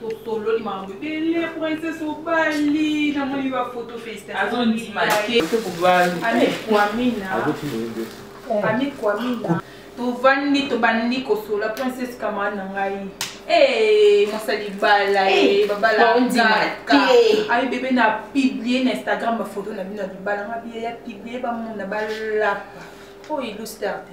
tosololi makambo ebele princesse obali namoni bafoto festatiamikwamina tovandi tobandi kosola princesse camarade na ngai eh, mosali bala eh, babalaka ayi bebe na publie na instagram bafoto na bino ya libala nga biye ya publie bamona balapa oyo ilusterte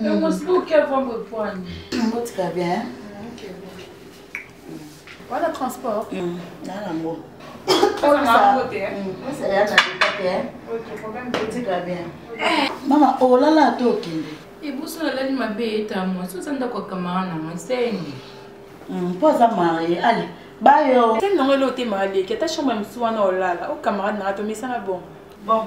Le moscou qui va me prendre. Ngo tika bien. Hein? OK. Voilà transport. Mm. Na na ngo. Oza na ngo te. Ngo sala na tika te. OK, problème te tika bien. Mama olala oh, to kende. Ebuso nalali mabe eta mwa soza ndako kamara na mwa seni. Mm, po aza marie ale bayo. Seni nango eloo te maleki ata chambre ya mosusu wana olala o oh, camarade na nga tomesana bongo. Bon.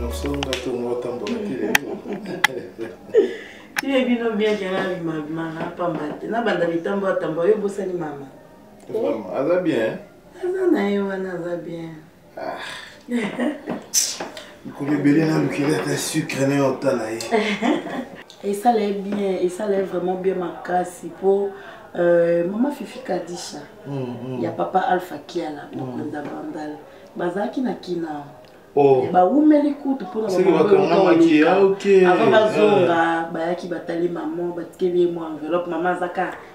nosonga tongo otambola te lelo ye bino bien jana mama pamba te nabanda litambo atambo yo obosani mama aza bien aza na ye wana aza bien mikolo ebele nalukeli ata sucre na yo otala ye esala ye bien esala ye vraiment bien makasi mpo euh, mama fifi kadisha mm, mm. ya papa alpha kiala mokonza mm. bandal bazalaki na kina oh. eh, bawumeli kutu mpona avant bazonga ah, ah. bayaki batali mama batikeli ye mwa enveloppe mama azaka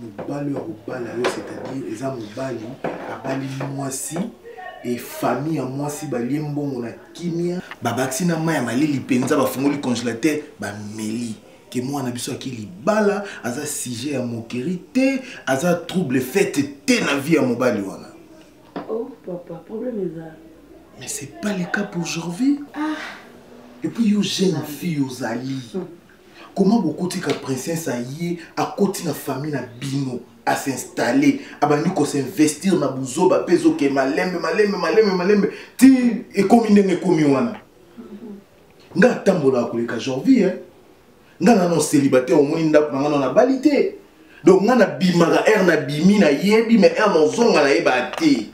mobali oyo akobala yo c'est-à-dire eza mobali abali mwasi e famille ya mwasi balie mbongo na kimia babakisi na mai ya malili mpenza bafungoli congélateur bameli ke mwana biso aki libala aza sujet ya mokeri te aza trouble fete te na vie ya mobali wana oh, papa, problème eza mais c'est pas le cas pour aujourd'hui ah. et puis yo jeune fille ozali hmm. Comment bokuti ka princesse aye akoti na famille na bino à s'installer abandi ko s'investir na buzoba pe zoke malembe malembe malembe malembe ti ekomi ndenge ekomi wana nga atambola koleka jorvi hein nga nano célibataire omoni ndako na nga nano nabali te donc nga nabimaka aire nabimi nayebi mais aire nazonga nayeba te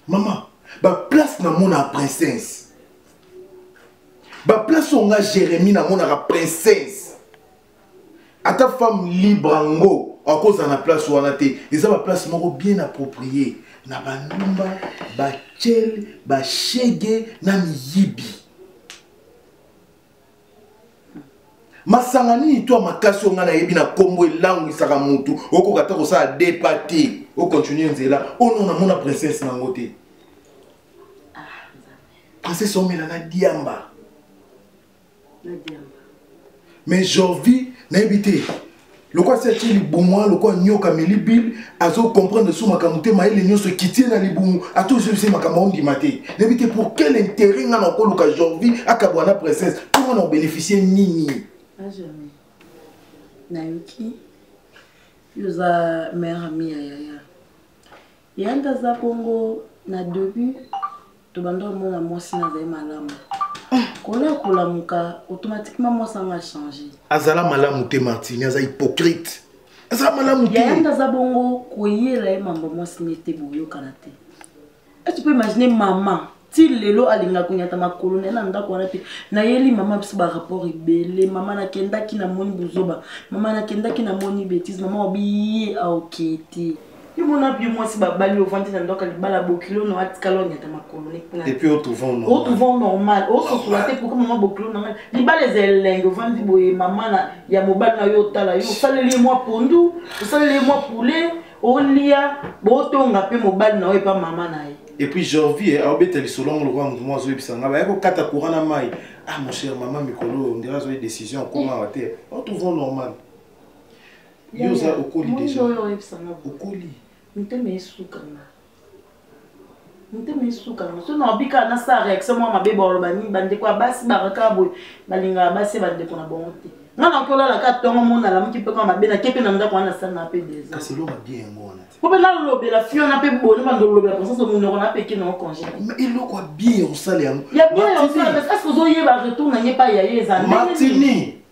maman baplace namonaka princesse baplace oyo nga jérémi namonaka princesse ata femme libre yango akozala na place wana te eza baplace moko bien approprie na bandumba bacele bashege na miyibi masanga nini to ya makasi oyo ngai nayebi na nkombo elangwisaka motu okoka ata kosala depa te ocontinue nzela ono namona princesse nango te ah, princesse omela na diamba mais jorvi nayebi te lokola si atie libumu wana lokola nyoka ameli bible azocomprendre so makambo te mayele nyonso ekitie na libumu ata ozwisi makambo aondima te nayebi te pour quel intérêt ngai nakoluka jorvi akabwa na princesse to ngai na obénéficie nini nayoki yo oza mère ami ya yaya yanda aza bongo na debut tobanda omona mwasi na azali malamu kola kolamuka automatiquement mwasi yango achange azala malamu te martini aza hypocrite aza malamu te yanda aza bongo koyela ye mambo mwasi ne te boyokana te est tu peux imaginer mama ti lelo alingaka konyata makolo na ye na ndako wana te nayeli mama biso barapport ebele mama nakendaki namoni buzoba mama nakendaki namoni betise mama wabiye aokei te imona bie mwasi babali ovandi na ndoka libala bokilo no atikala onyata makolo neotrouvant normal ososola te pourkui mama bokilo na ngai libala eza elenge ovandi boye mama ya mobali na yo otala yo osaleli ye mwa pondu osaleli ye mwa poulet olia botonga mpe mobali na yo epa mama na ye et puis jorvie eh, aobeta lisolo yango lokola moto moko azoyebisa ngai baya kokata courant na mai ah mon cher mama mikolo oyo ondira azoi décision akoma awa te o trouvons normal yo oza okoli déjà okoli mitema esuka nga motema esuka yango so naobi kaka nasala réaction mwa mabe baoloba nini bandeko ya basi bakaka boye balingaka basi ya bandeko na bango te nga nakolala ka tongo mo nalamuki mpe kaka mabe nake mpe na ndako wana nasanga mpe desapo mpe nalobela fiona mpe boni bandolobela konsanso monoko na peke nango congé eloko ya bien osala yango ya bien osala eske ozoyeba retour na nge epai ya ye eza ndenge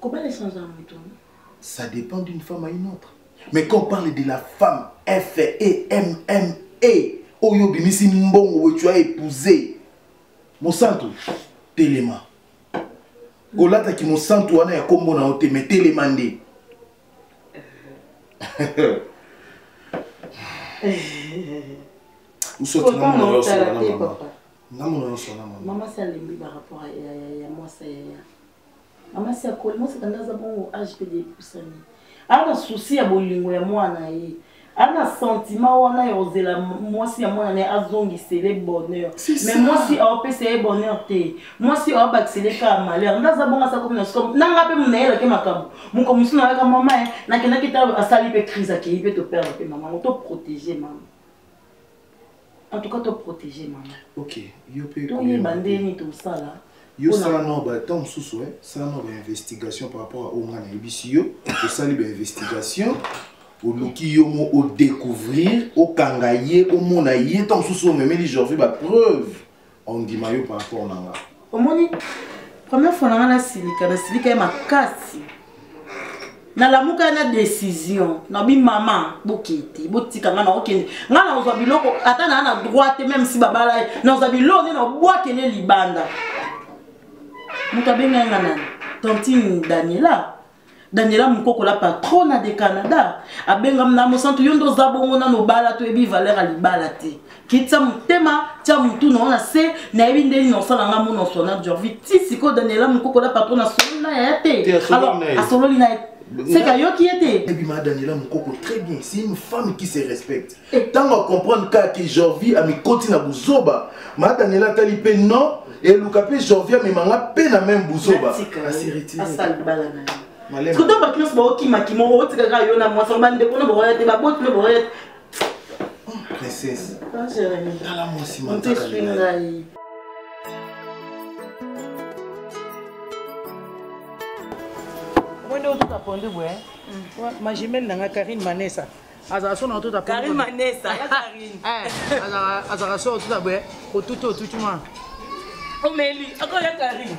Comment les sans moto Ça dépend d'une femme à une autre. Mais quand on parle de la femme F E M M E oyo bimisi mbongo oyo tu as épousé mosantu telema olataki mosantu wana ya kombo na yo te mais telema nde usoti na mona yosona na mama na mona yosona mama mama salembi ba rapport ya mwasa yaya mama si akoli moseka nde aza bongo age mpe depusani aa na susi ya bolingo ya mwana ye aa na sentiment wana ya kozela mwasi ya mwana na ye azongisele bonheur mais mwasi aopesa ye bonheur te mwasi aobakisele kaka malheur nde aza bongo aza komi na sika nanga mpe monayelaki makambo moko mosu nayaka mama ye nakendaki ta asali mpe crise akei mpe toperdre mpe mama yango toprotege mama en tout cas to protéger maman ok yo pe to yeba ndeni to sala yo sala no ba temps mosusu eh sala no ba investigation par rapport à oyo ngai nayebisi yo osali ba investigation oluki yo mo odécouvrir okanga ye omona ye ntango mosusu omemeli jorvi bapreuve on ndima yo par rapport na nga omoni première fois na nga nasilika nasilika ye makasi nalamuka na décision nabi mama bokete botika nga naokende nga nakozwa biloko ata naa na droit te meme si babala ye nakozwa biloko nde nabwakele libanda moto abengai nga nani tantine daniela daniela mukoko la patrona de canada abengam na mosantu yo nde oza bongo nano obala toyebi valeur ya libala te kitisa motema tya motu na ona se nayebi nde nini osala nga mona osona jorvi ti sikoyo daniela mukoko la patrona asololi na yaya te alors asololi na ye seka ayoki ye te ebima daniela mukoko très bien c'est une femme qui se respecte ntango acomprendre kaka ke jorvi amikoti na buzoba ma daniela atali mpe non eluka mpe jorvi amema nga mpe na meme buzoba sikoto bato nyonso baokimakima otika kaka yo na mwasi bandeko no bakoya te baboti no bakoya te oh, princesse tala mwasi manzaka nde otuka pondu boye majimele na ngai karine manesa azala so na otota karine manesa ya karine eh, azala so otota boye otuti otuti mwana omeli akoya karine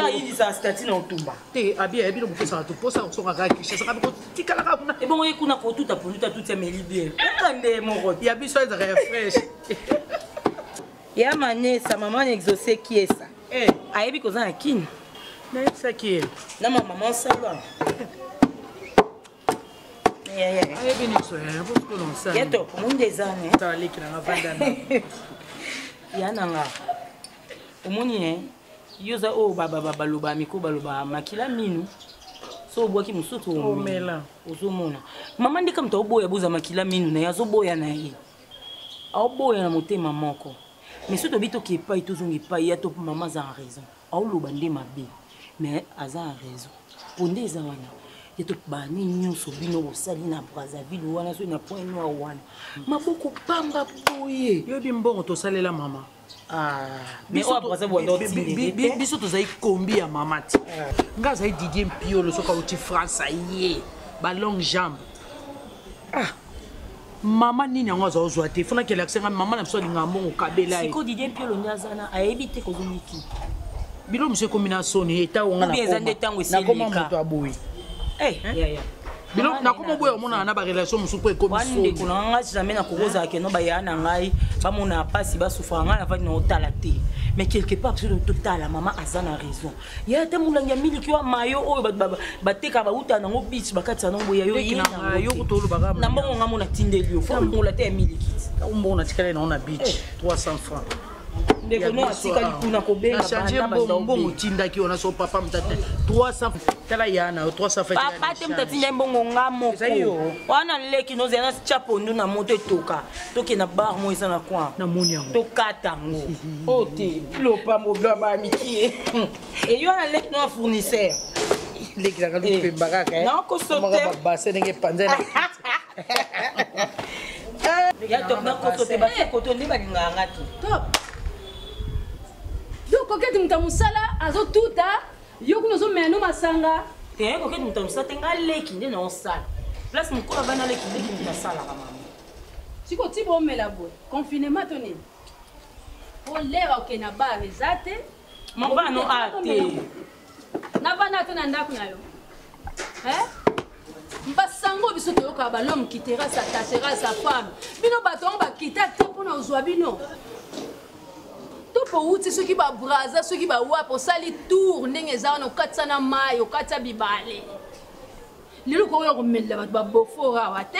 ayinisa stati na otumba te abi ayebi no koposa bato mposa kosoka kaka kinshasa kabi kotikala kaka kuna ebongo ye kuna kotuta poluta tuti ameli bien eka nde moko ya biso ezaka ya fresh ya manesa maman exauce kiesa eh. ayebi koza na kini nayebisaki ye na ma maman sala ayebi nyonso yayeto omonde ezani ya nanga omoni ye yo oza oyo baloba miko baloba makila minu so obwaki mosusu omela ozomona mama ndeka moto aoboya boza makila minu na ye azoboya na ye aoboya na motema moko mais soki tobi toke epai tozonga epai ya to mama aza en raison aoloba nde mabe mais aza en raison mpo nde eza wana ye to bani nyonso bino bosali na brazzaville wana soki na point noir wana maboko pamba boye yoyebi mbongo tosalela mama Ah, biso tozali kombi ya mama ti ah. nga azali didie mpiolo soki auti france aye balongue jambe ah mama nini yango aza ozwa te fona kelakisa ngai mama na biso alingaka mbongo kabela ye didie mpiolo nde aza na ayebi te kozongiki bilo mosu ekomi na soni etango nga nakoma moto aboye eh, bino nakoma oboya omonana na barelation mosusu mpo ekomisondeko na ngai jamais nakokozala keno baya na ngai bamona mpasi basufaka ngai navandi na otala te mais quelque part biso totala mama aza na raison ye ata molangi ya miliki wa mayo oyo bateka bauta nango bic bakatisa nango boya yoyena mbongo ngai mona tindeli yo fo mbongola te ya miliki mbongo natikali nango na bic 300 francs ndeko no atikali kuna kobengachanger mbongo otindaki wana so papa mtate 300 tala ya na yo 300 papa te moto atindaki mbongo nga moko wana leki nozela na tia pondu na moto etoka tokenda bar mo eza na coin namoni yango tokata yango o te lopambo blaba mikie eyo na leki no afournisseur lekilaka lupemba kaka nakosote ndenge epanzana ya top na koto te basi koto nde balingaka nga te top donc kokete moto ya mosala azotuta yo kuna ozomela no masanga te eh, kokete moto ya mosala te nga leki nde naosala place mokolo abana leki leki nde nasalaka mama siko ti bomela boye confinement to nini olera okenda bar eza te Mama no a te. Na bana te na ndako na yo. Hein? basango biso toyoka balome kitera sa tachera sa femme bino bato yango bakita te mpo na ozwa bino pouti soki babraza soki bawapi osali tour ndenge eza wana okatisa na mai okatisa bibale lelo kokoya komelela bato babofora awa te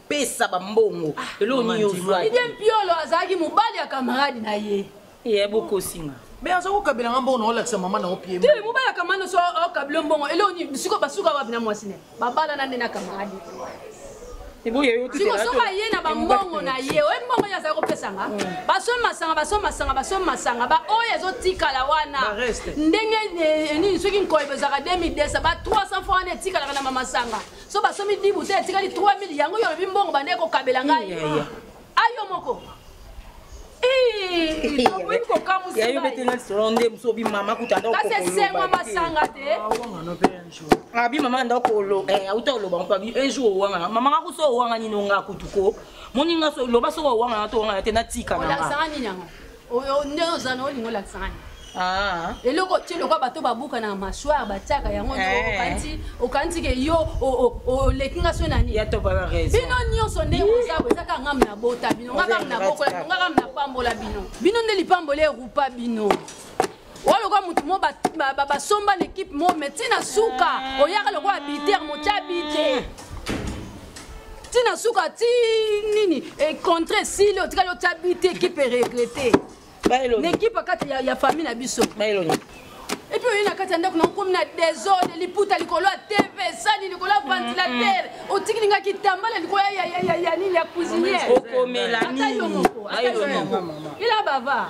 pesa bambongo ah, eloko nini ozwaki idie mpiolo azalaki mobali ya kamarade na ye ye bokosinga mais aza kokabela nga mbongo naolakisa mama na opie te mobali ya kamarade nyonso okabela oh, oh, mbongo eloko nini siko basuka wapi na mwasi ne babalana nde na kamarade sikosoka ye na bambongo na ye oyebi mbongo ye azali kopesanga mm. basomi masanga basomi masanga basomi masanga baoyo ezotikala wana ndenge eh, nini soki nkoyeba ezalaka 2010 ba 300 fois wana etikalaka na mamasanga so basomi dibu te etikali 3000 yango yo olobi mbongo banda ekokabela ngai ayo moko kasi esengo masanga te ah, abi mama anda okolo eh, auta oloba mpo abi un jour owangana mama nga kuso owanga nini onga kutuko moni nga loba soko owangana to owangana te natika nanga oyo nde oza na olingo olakisa ngai Ah. eloko otie lokwa bato babuka na mashware batiaka yango eh. okanisi ke yo oleki nga so nani bino nyonso nde ozako eza kaka ngam na bota bino nga kam na bokola bino nga kam na pambola bino bino nde lipamboli erupa bino oyo lokola motu mo basomba na ekipe mo me ntina suka oyaka lokola biter motya bite ntina suka ti nini econtre esili otikali otya bite ekipe eregrete na ekipe kati ya famille na biso epuis oye na kati ya ndako nakomi na desordre liputa likolo ya tv esani likolo ya ventilatere otikili nga kitambala likolo ya nini ya cuisiniere okomela nini ila bava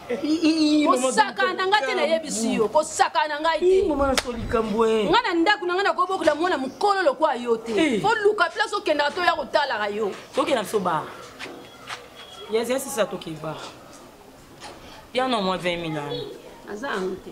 kosakana na ngai te nayebisi yo kosakana na ngai te ngai na ndako na ngai nakobokola mwana mokolo lokola yo te eh. oluka place okendaka to ya kotalaka yo tokenda biso ba yaziyasisa tokeba piano mwa 20 milano aza yango te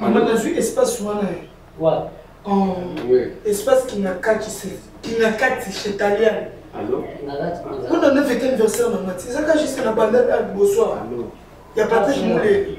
mama nazwi espace wana eh. wapi oh, espace kingakati kingakati chez taliane kuna nde fete anniversaire na mati ezaka juste na banda liboso ya patrice muleli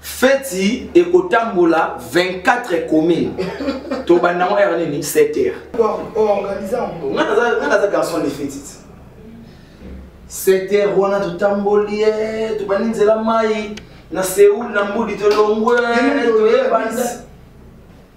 feti ekotambola 24 commune tobanda yango ere nini 7 heure nga naza garçon de feti 7 heure wana totamboli eh, tobandi nzela mai na seoul na mbudi tolongwe toyebanda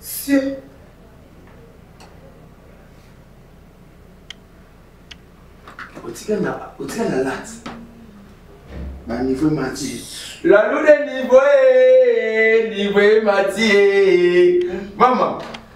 Sir. otika na otika na late ba niveau emati lalude niveau e niveau emati e mama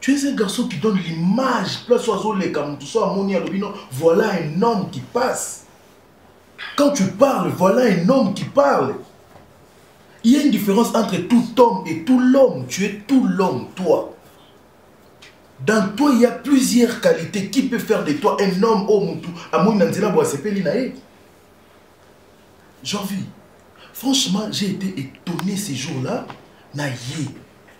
Tu es un garçon qui donne l'image place oyo azoleka motu so amoni alobi no voilà un homme qui passe quand tu parles voilà un homme qui parle il y a une différence entre tout homme et tout l'homme tu es tout l'homme toi dans toi il y a plusieurs qualités qui peut faire de toi un homme oyo oh, motu amoni na nzela bo asepeli na ye janvi franchement j'ai été étonné ces jours là na ye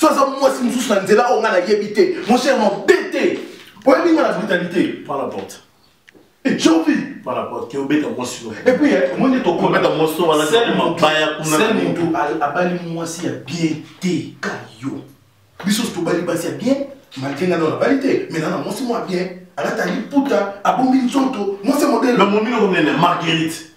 so aza mwasi mosusu na nzela oyo ngai nayebi te mon cher mabe te oyebi ngai na brutalité par la porte ecobi par la porte obeta mwasi no epuis eh, omoni tokobeta mwasi no wana mabaya kuna se motu abali mwasi ya bien te ka yo biso tobali basi ya bien malgre ngai nona bali te mais nana mwasi mwa bien alatali puta abombi nzoto mwasi ya modele na momino komenene marguerite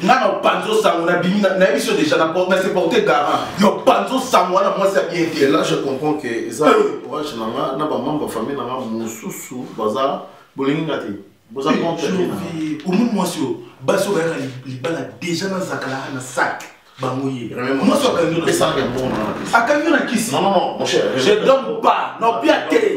nga na panzo sango na bimi na yebi so déjà na porte na se porter garant na panzo sango na mwasi ya bien te là je comprends que eza euh. courage na nga na ba membre famille na nga mususu baza bolingi nga te boza contre vie au moins mwasi yo baso ba yaka libala déjà na zakala na sac bango ye mwasi akangi yo na sac akangi yo na kisi non non non mon cher je donne pas non bien te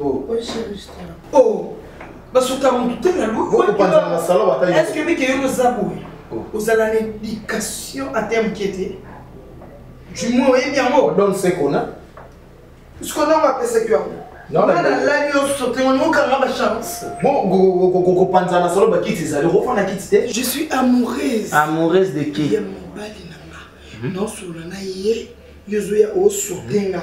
Oh. Oh. basuka mutu te na lueske bike yo noza boye oh. ozala na éducation ata moke te du moins oyebi yango donne ce qu'on a ce qu'on a on va passer que yango nalali yo sote ngo nokanga bachance kopanzana solo bakiti ezali okofanda kiti te je suis amoureuse amoureuse de qui ya mobali na nga nosolola na ye yo ozoya osote nga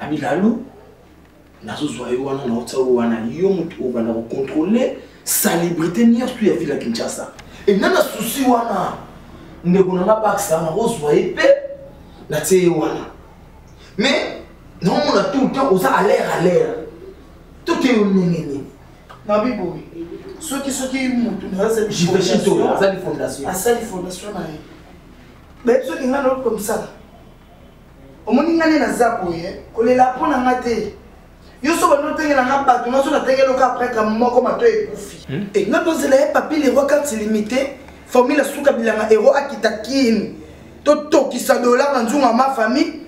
Abigalu, nazozwa yo wana naotya yo wana yo moto oyo banda kocontrole salubrité nyonso ya ville ya kinshasa ena na susi wana ndeko na nga bakisa nakozwa ye mpe natie ye wana mais naomona tout le temps oza alere alere toke yo ndenge nini nabi boye soki soki motu naasali fondation na ye nayebi soki ngai naokomsala omoni nga nde naza boye kolela mpo na nga te yo so bando otengela nga bato nga so natengeloka apreka moko mato ekufi hmm? e nga tozela ye papi lero carte limité formule asuka bilanga ero akita kini totokisa dola na nzunga ma famille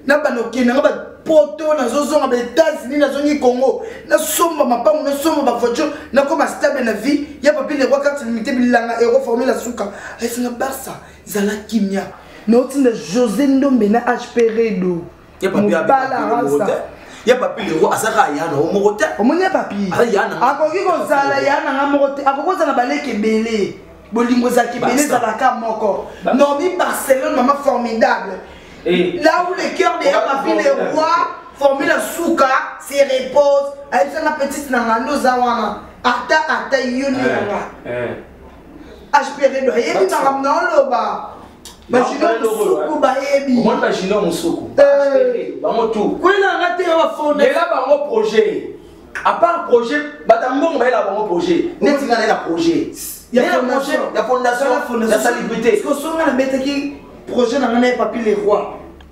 na banda okende nga bapoto nazozonga ba états-unis nazongi congo nasomba mapango nasomba bavoiture nakoma stable na vie ya papi lero carte limité bilanga ero formule asuka ayesinga barça zala kimia mais otinda josé ndombe na hp redo mobala rasa ya papi lero azaka ya nango moko te omoni ya papi akoki kozala ya nanga moko te akoki kozala baleki ebele bolingo ezalaka ebele ezalaka moko normi barcelone mama formidable eh. là où le cœur de ya papi le roi formi na suka se repose ayebisanga petite nanga nde oza wana ata ata yo nde nanga eh, eh. HPV bayebi makambo na oloba bajino mosuku bayebi omoni bajino mosuku bango tu kwela nga te bafonela bango projet apart projet bata mbongo bayela bango projet neti nga naye na projet ya fondation ya salubrité osonga nabetaki projet na nga naye papi le roi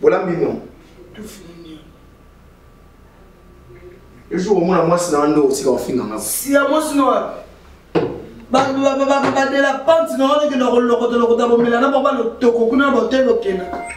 bolambi no ejour omona mwasi na ndo osika ofinga nga siya mwasi na wapi badela panti na wana okenda kolokota lokota bomela na baba lotoko kuna na botelo okendaka